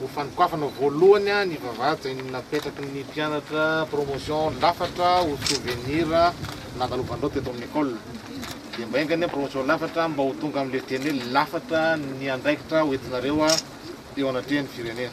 Ho fanokafana voalohany ny vavahady izay napetraky ny mpianatra promotion lafatra ho souvenir nandalovanareo teto amin'ny ecole. Dia mba enga anie ny promotion lafatra mba ho tonga amin'ilay teny hoe lafatra ny andraikitra ho entinareo teo anatrehan'ny firenena.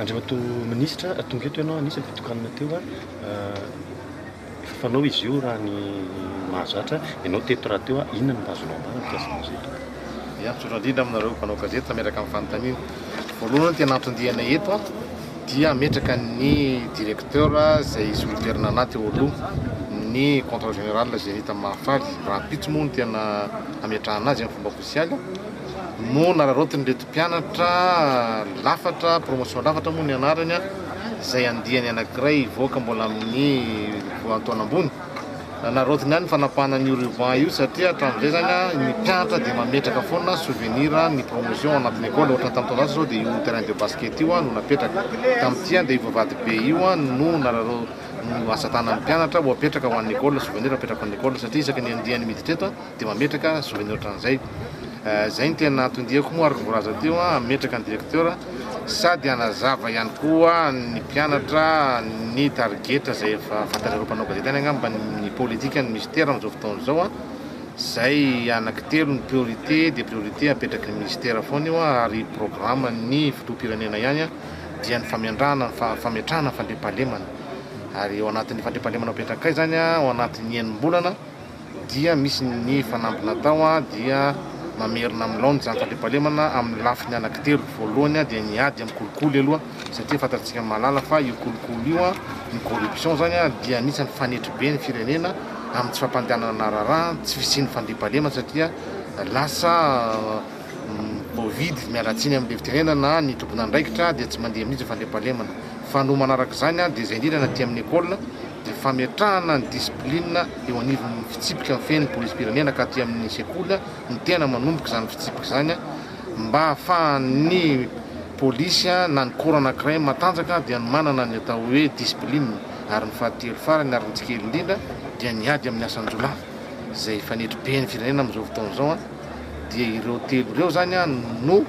Andriamatoa Minisitra, tonga eto ianao, anisan'ny fitokanana teo. Fanao izy io raha ny mahazatra, ianao teto rahateo a, inona no mba azonao ambara mikasika an'izy io? Ya, misaotra indrindra aminareo mpanao gazety nametraka amin'ny fanontaniana. Voalohany ny tena anton-diana eto a, dia hametraka ny directeur izay solontenana anah teo aloha, ny comptrole général Zenith Mahafaly, rahampitso moa no tena hametrahana azy amin'ny fomba ofisialy, no nararaotin'ireto. Mpianatra lafatra, promotion lafatra moa ny anarany, izay andiany anankiray hivoaka mbola amin'ny volantaona ambony. Nanaraotiny ahy ny fanapahana an'io ruban io satria hatramin'izay izany ny mpianatra dia mametraka foana souvenir ny promotion ao anatin'ny école. Ohatrany tamin'ny taona lasa izao dia io terrain de basket io no napetraka. Tamin'ity dia io vavahady be io no nararaotiny, no asa tanan'ny mpianatra ho apetraka ho an'ny école, souvenir apetraka ho an'ny école satria isaky ny andiany miditra eto, Dia mametraka zony ohatran'izay. Izay no tena anton-diako moa ary vao voalaza teo an, hametraka ny directeur sady hanazava ihany koa ny mpianatra ny tarigetra izay efa fantatr'ireo mpanao gazety any angamba ny politika ny mister amin'izao fotoana izao an, izay anankitelo ny priorité dia priorité apetraky ny ministera foana io an ary programme ny filoham-pirenena ihany an dia ny famendrahana ny fametrahana ny fandriampahalemana ary ao anatin'ny fandriampahalemana apetrakay izany an ao anatin'ny enim-bolana dia misy ny fanamby natao dia mamerina amin'ny laoniny izany fandriampahalemana amin'ny lafiny anankitelo, ny voalohany dia ny ady amin'ny kolikoly aloha satria fantatsika mahalala fa io kolikoly io, ny corruption izany dia anisan'ny fanetry be ny firenena amin'ny tsy fampandehanana raharaha, tsy fisian'ny fandriampahalemana satria lasa mibovidy, miala tsiny amin'ilay fitenenana ny tompon'andraikitra dia tsy mandeha mihintsy ny fandriampahalemana, fa no manaraka izany dia izay indrindra ny aty amin'ny ecole. dia fametrahana ny discipline eo anivon'ny fitsipika mifehy ny polisim-pirenena ka aty amin'ny sekoly no tena manomboka izany fitsipika izany mba ahafahan'ny polisy na ny corps anankiray matanjaka dia ny manana ny atao hoe discipline ary ny fahatelo farany ary ny tsy kely indrindra dia ny ady amin'ny asan-jiolahy izay efa nedry be ny firenena amin'izao fotoana izao dia ireo telo ireo izany no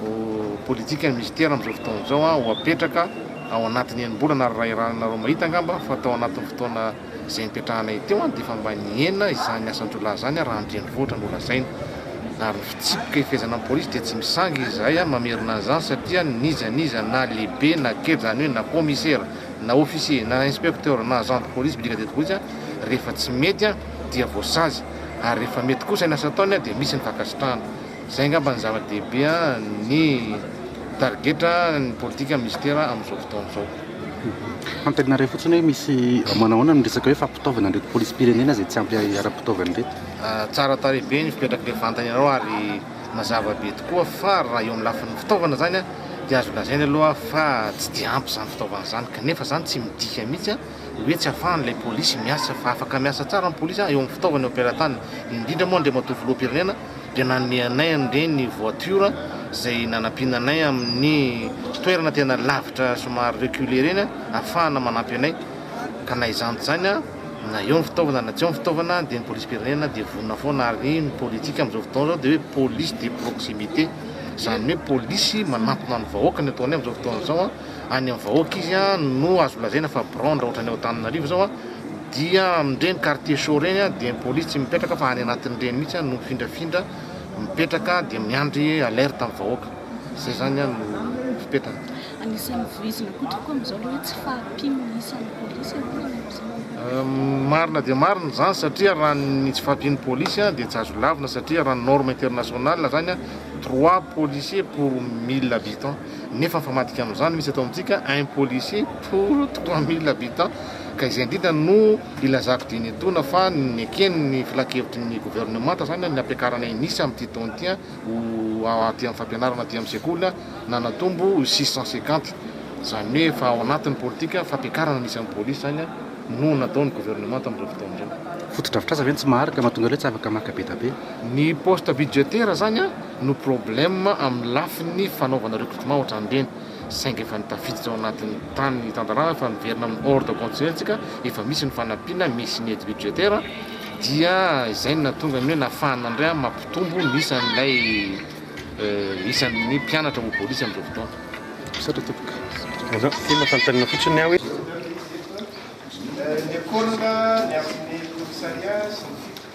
ho politique ny Mister amin'izao fotoana izao an, ho apetraka ao anatin'ny enim-bolana ary raha iarahanareo mahita angamba fa tao anatin'ny fotoana izay nipetrahanay teo an dia efa mba nihena izany asan-jiolahy izany raha an-drenivohitra no lazaina ary ny fitsipika hifehezana ny polisy dia tsy misangy izahay an mamerina an'izany satria n'iza n'iza na lehibe na kely izany hoe na commissaire na officier na inspecteur na agent de police brigadier de police rehefa tsy mety an dia voasazy ary rehefa mety kosa ny asa ataony an dia misy ny fankasitrahana. Izay angamba no zava-dehibe ny tarigetra ny politika minisitera amin'izao fotoana izao. Antenarinay fotsiny hoe misy manahoana ny resaka hoe fampitaovana an'ireto polisim-pirenena izay tsy ampy ara-pitaovana ireto? Tsara tarehy be ny fipetrak'ilay vantan'ianareo ary mazava be tokoa fa raha eo amin'ny lafiny fitaovana izany dia azo lazaina aloha fa tsy dia ampy izany fitaovana izany kanefa izany tsy midika mihitsy hoe tsy afahan'ilay polisy miasa fa afaka miasa tsara ny polisy eo amin'ny fitaovana eo am-pelatanana indrindra moa Andriamatoa Filoham-pirenena dia nanome anay an'ireny ny voiture izay nanampiana anay amin'ny toerana tena lavitra somary reculé ireny ahafahana manampy anay ka na izany tsy izany na eo ny fitaovana na tsy eo ny fitaovana dia ny polisim-pirenena dia vonona foana ary ny politika amin'izao fotoana izao dia hoe police de proximité izany hoe polisy manampina ny vahoaka ny ataonay amin'izao fotoana izao a any amin'ny vahoaka izy a, no azo lazaina fa bronde ohatra any Antananarivo zao a, dia amin'ireny quartier chaud ireny a, dia ny police tsy mipetraka fa any anatin'ireny mihitsy no mifindrafindra mipetraka dia miandry alerte amin'ny vahoaka. Zay zany a no fipetrany. Anisan'ny voizina koa tokoa amin'izao ilay hoe tsy fahampian'ny isan'ny police e, ahoana no amin'izany? Marina dia marina izany satria raha ny tsy fahampian'ny police a, dia tsy azo lavina satria raha ny norme international zany a, trois policiers pour mille habitants. Nefa mifamadika amin'izany misy eto amintsika un policier pour trois mille habitants ka izay indrindra no ilazako dieny etoana fa neken' ny filankevitry ny governemanta izany ny hampiakarana inisa amin'ity taona ity ho aty amin'ny fampianarana aty amin'ny sekoly na natombo ho six cent cinquante izany hoe efa ao anatin'ny politika fampiakarana ny isan'ny polisy izany no nataon'ny governemanta amin'ireo fotoana ireo. Fotodrafitrasa ve no tsy maharitra mahatonga ireo tsy afaka maka be dia be? Ny poste budgetaire izany an! no problème amin'ny lafiny fanaovana recrutement ohatran'ireny saingy efa tafiditra ao anatin'ny tany ny tantaràna fa miverina amin'ny ordre constitutionnel-ntsika efa misy ny fanampiana misy ny aide budgétaire dia izay no nahatonga ny hoe nafahana indray amin'ny mampitombo ny isan'ilay isan'ny mpianatra ho bolisy amin'izao fotoana. Misaotra tompoko. Aza asiana fanontaniana fotsiny aho hoe. Ny école, ny amin'ny commissariat sy ny sisa.